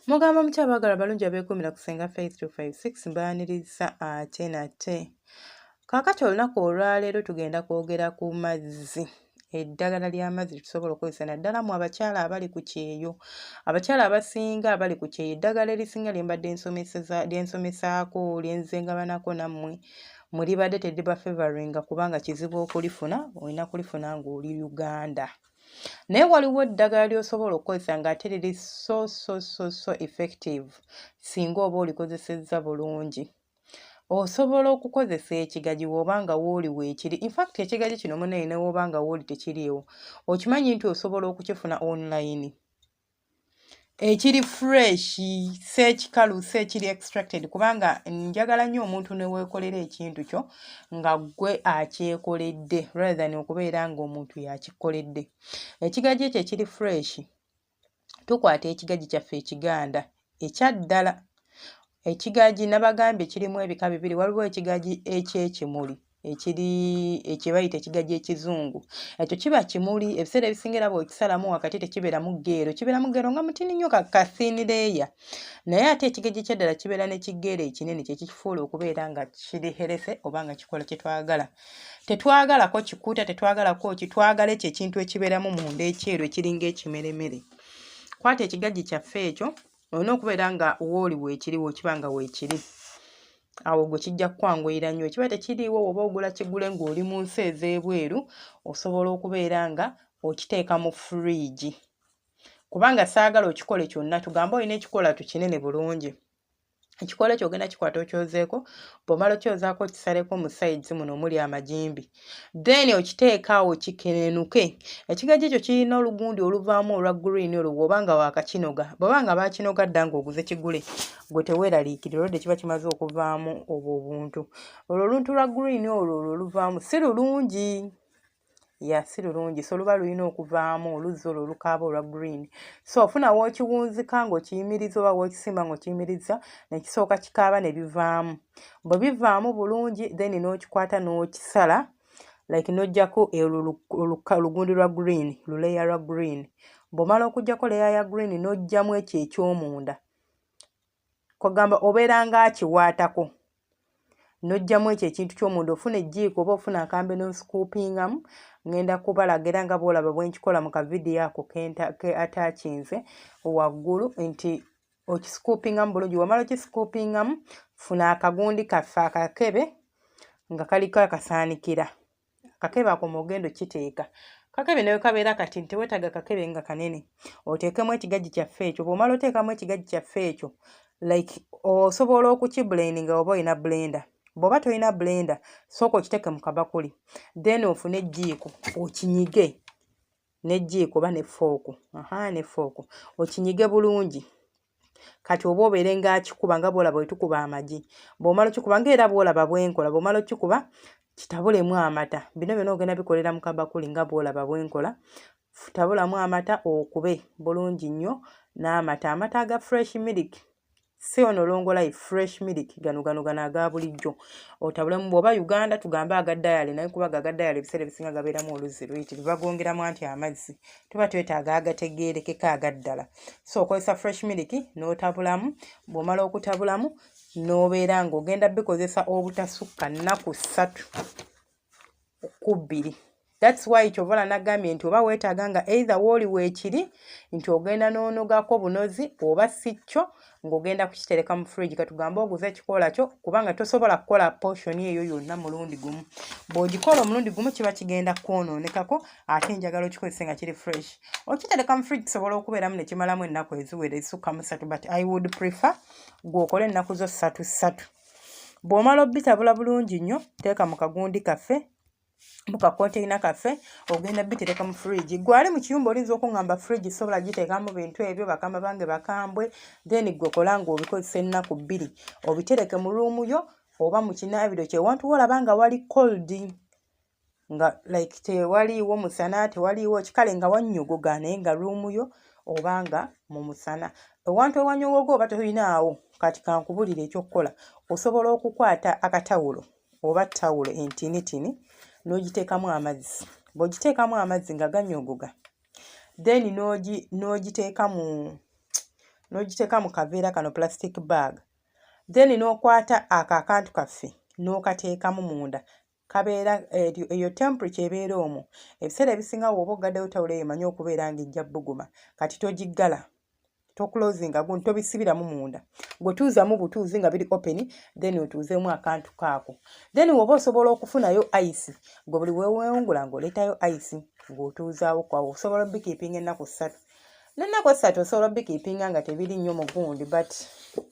mugamba mutya abaagala balungi abeekuumira ku senga faith 256 mbaaniriza ate nate kaakati olunaku olwaleero tugenda kwogera ku mazzi eddagala ly'amazzi tusobola okukozesa naddala mu abakyala abali ku kyeyo abakyala abasinga abali ku kyeyo eddagala erisinga lyembadde lyensomesaako lyenzengabanako nammwe mulibadde tediba favoringa kubanga kizibu okulifuna olina kulifuna ng'oli uganda naye waliwo eddagala ly'osobola okukozesa ng'ate liri so so so so effective singa oba olikozesezza bulungi osobola okukozesa ekigaji woba nga wooli weekiri infact ekigaji kino munaye newoba nga wooli tekiriiwo okimanyi nti osobola okukifuna online ekiri fresh si ekikalu si ekiri extracted kubanga njagala nnyo omuntu neweekolera ekintu kyo nga ggwe akyekoledde rather than okubeera ngaomuntu yakikoledde ekigaji ekyo ekiri fresh tukwata ekigagi kyaffe ekiganda ekyaddala ekigagi nabagambye kirimu ebika bibiri waliwo ekigagi ekyekimuli ekiri ekyebayita ekigagi ekizungu ekyo kiba kimuli ebiseera ebisinga era bwekisalamu wakati tekibeeramu geero kibeeramu geero nga mutini nnyo kakasinireeya naye ate ekigagi ekyaddala kibeera ne kigeero ekinene kyekikifuula okubeera nga kiri herese oba nga kikola kyetwagala tetwagalako kikuta tetwagalako ki twagala ekyo ekintu ekibeeramu munda ekyeru ekiringa ekimeremere kwata ekigajji kyaffe ekyo olina okubeera nga wooli weekiri wekiba nga weekiri awo gwe kijja kukwanguyira nnyo ekiba tekiriiwo woba ogula kigule ng'oli mu nsi ez'ebweru osobola okubeera nga okiteeka mu furiigi kubanga saagala okikole kyonna tugambe olina ekikola tukinene bulungi ekikoola ekyo ogenda kikwata okyozeeko bwomala okyozaako okisaleko mu sides muno omuli amagimbi then okiteekaawo kikenenuke ekigajja ekyo kirina olugundi oluvaamu olwa green olwo bwoba nga waakakinoga bwoba nga baakinoga dda ngaoguze kigule gwe teweeraliikirira olwodde kiba kimaze okuvaamu obwo obuntu olwo oluntu lwa green olwo olwo oluvaamu si lulungi ya si lulungi so luba lulina okuvaamu oluzzi olwo olukaaba olwa green so ofuna wookiwunzika ng'okiyimiriza oba wookisimba ng'okiyimiriza nekisooka kikaaba ne bivaamu bwe bivaamu bulungi then n'okikwata n'okisala like n'ojjako olugundi lwa green luleya lwa green bw'omala okujjako leya ya green n'ojjamu ekyo ekyomunda kwagamba obeera nga akiwaatako nojjamu ekyo ekintu kyomunda ofuna ejjiiko oba ofuna akambe nosikuupingamu ngenda kubalaga era nga boolaba bwenkikola mu kavidiyo ako ke atakinze waggulu nti okisikuupingamu bulungi wamala okisikuupingamu funa akagundi kaffe akakebe nga kaliko akasaanikira kakebe ako mwogenda okiteeka kakebe nawe kabeera kati nti wetaaga kakebe nga kanene oteekemu ekigajji kyaffe ekyo bwomala oteekamu ekigajji kyaffe ekyo like osobola okukibuleni nga oba olina blenda bwoba tolina blenda sooka okiteeke mu kabakuli then ofune ejjiiko okinyige nejjiiko oba nefooku aha nefooku okinyige bulungi kati oba obeere nga akikuba nga bwolaba wetukuba amagi bwomala okikuba nga era bwolaba bwenkola bwomala okikuba kitabulemu amata bino byona ogenda bikolera mu kabakuli nga bwolaba bwenkola tabulamu amata okube bulungi nnyo n'amata amata aga fresh milk si ono longolayi fresh milk gano gano gano aga bulijjo otabulemu bwoba uganda tugambe aga dayale naye kubaga aga dayale ebiseera ebisinga gabeeramu oluzzi luyitiri bagongeramu anti amazzi tuba twetaaga agategeerekeka agaddala so okozesa fresh miliki n'otabulamu bw'omala okutabulamu n'obeera ng'ogenda bikozesa obutasukka nnaku ssatu ku bbiri thats why kyovala nagambye nti oba weetaaga nga either wooli weekiri nti ogenda n'onogako bunozi oba si kyo ng'ogenda kukitereka mu fridge katugambe oguze ekikoola kyo kubanga tosobola kukola portion eyo yonna mulundi gumu bw'ogikola omulundi gumu kiba kigenda kwonoonekako ate enjagala okikozese nga kiri fresh okitereka mu fridge kisobola okubeeramu ne kimalamu ennaku eziwera ezisukka mu ssatu but i would prefer gw'okola ennaku zo ssatu ssatu bw'omala obitabula bulungi nnyo teeka mu kagundi kaffe muka container kaffe ogenda bitereka mu fridge gwali mu kiyumba olinza okungamba fridge sobola giteekamu bintu ebyo bakama bange bakambwe then gwe kola nga obikozesa ennaku bbiri obitereke mu ruumu yo oba mu kinaabiro kyewantu wolaba nga wali cold nga like tewaliiwo musana tewaliiwo kikale nga wannyogoga naye nga ruumu yo oba nga mu musana ewantu ewanyogoga oba tolinaawo kati kankubulire ekyokukola osobola okukwata akatawulo oba tawulo entinitini n'ogiteekamu amazzi bw'ogiteekamu amazzi nga ganyoogoga then n'ogiteeka mu n'ogiteeka mu kaveera kano plastic bag then n'okwata ako akantu kaffe n'okateekamu munda kabeera eyo temperature ebeera omwo ebiseera ebisinga wooba oggaddeyo tawulo eyo manya okubeera ng'ejja bbuguma kati togiggala tokulozinga gundi tobisibiramu munda gwetuuzamu butuuzi nga biri open then otuuzemu akantu kaako then woba osobola okufunayo ice gwe buli wewewungula ngaoletayo ice ngaotuuzaawo kwawo osobola obikiipinga ennaku ssatu nennaku essatu osobola obikiipinga nga tebiri nnyo mu gundi but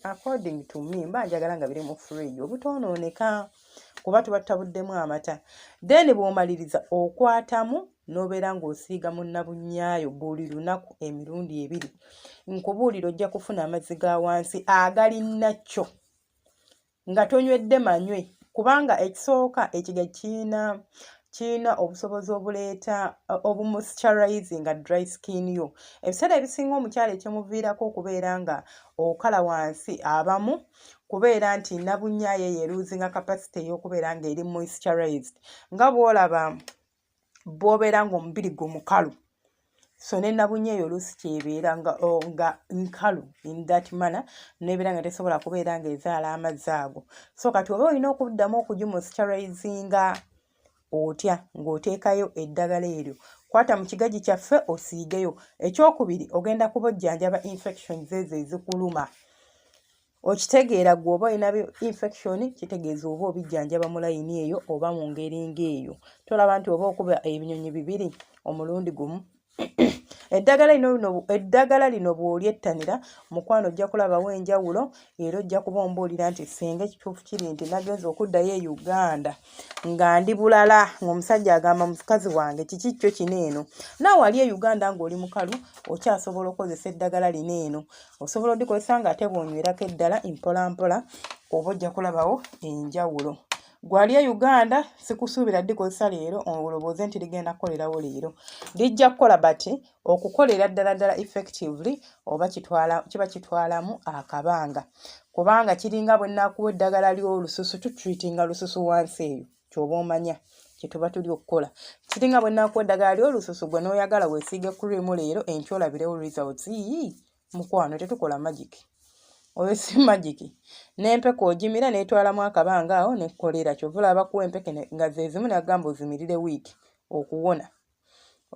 according to me mba njagala nga biri mu fridge obutoonooneka kuba tuba tutabuddemu amata then bwomaliriza okwatamu n'obeera ng'osiiga mu nnabunnyayo buli lunaku emirundi ebiri nkubuulira ojja kufuna amazzi ga wansi agalinna kyo nga tonywedde manywe kubanga ekisooka ekiga kiina kiina obusobozi obuleeta uh, obumusturizing nga dry skin yo ebiseera ebisinga omukyalo ekyemuviirako okubeera nga okala wansi abamu kubeera nti nabunyayo eyeruuzinga kapasite ey'okubeera ng'eri musturized nga bwolaba bwobeera nga omubiri gwo mukalu so nenabunye eyo oluusi kyebeera nga oh, nkalu in that manner nebeera nga tesobola kubeera nga ezaala amazzi ago so kati oba olina okuddamu okugimusiterizinga otya ng'oteekayo eddagala eryo kwata mu kigagi kyaffe osiigeyo ekyokubiri ogenda kubojjanjaba infections ezo ezikuluma okitegeera gwe oba olina infection kitegeeza oba obijjanjaba mu layini eyo oba mu ngeri ng'eyo tolaba nti oba okuba ebinyonyi bibiri omulundi gumu eddagala lino lino eddagala lino bw'olyettanira mukwano ojja kulabawo enjawulo era ojja kuba ombuulira nti singa ekituufu kiri nti nagenza okuddayo e uganda nga ndi bulala ng'omusajja agamba mukazi wange kiki kyo kino eno naawe ali e uganda ng'oli mukalu okyasobola okukozesa eddagala lino eno osobola odikozesa nga ate bwonywerako eddala mpolampola oba ojja kulabawo enjawulo gwali e uganda sikusuubira dikozesa leero olowooze nti ligenda kukolerawo leero lijja kukola but okukolera ddala ddala effectively oba kitwala kiba kitwalamu akabanga kubanga kiringa bwenakuwa eddagala ly'olususu tutreatinga lususu wansi eyo kyoba omanya kyetuba tuli okukola kiri nga bwenaku eddagala ly olususu gwe noyagala wesiige cream leero enkyo olabirewo results yii mukwano tetukola magic oyo si magic nempeke ogimira netwalamu akabanga awo nekolera kyovula abakuwa empeke nga zezimu nagamba ozimirire wiiki okuwona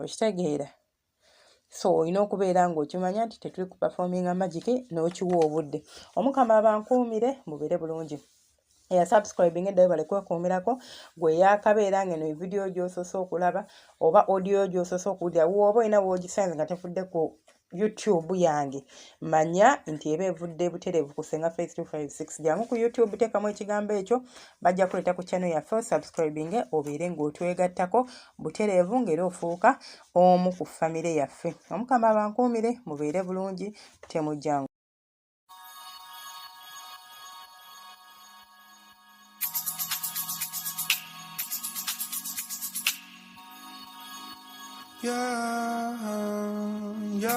okitegeera so olina okubeera ng'okimanya nti tetuli ku performinga magiki n'okiwa obudde omukama abankuumire mubeere bulungi eya subscribing eddayo bale kwekuumirako gwe yakabeera ngeno evidiyo gyosose okulaba oba audio gyosose okuwulira wooba olina woogisanze nga tevudde ku youtube yange manya nti eba evudde butereevu ku senga face 256 jangu ku youtube teekamu ekigambo ekyo bajja kuleeta ku channel yaffe subscribing obeere ng'otwegattako butereevu ng'era ofuuka omu ku famire yaffe omukama abankuumire mubeere bulungi temujjangu Yeah, yeah.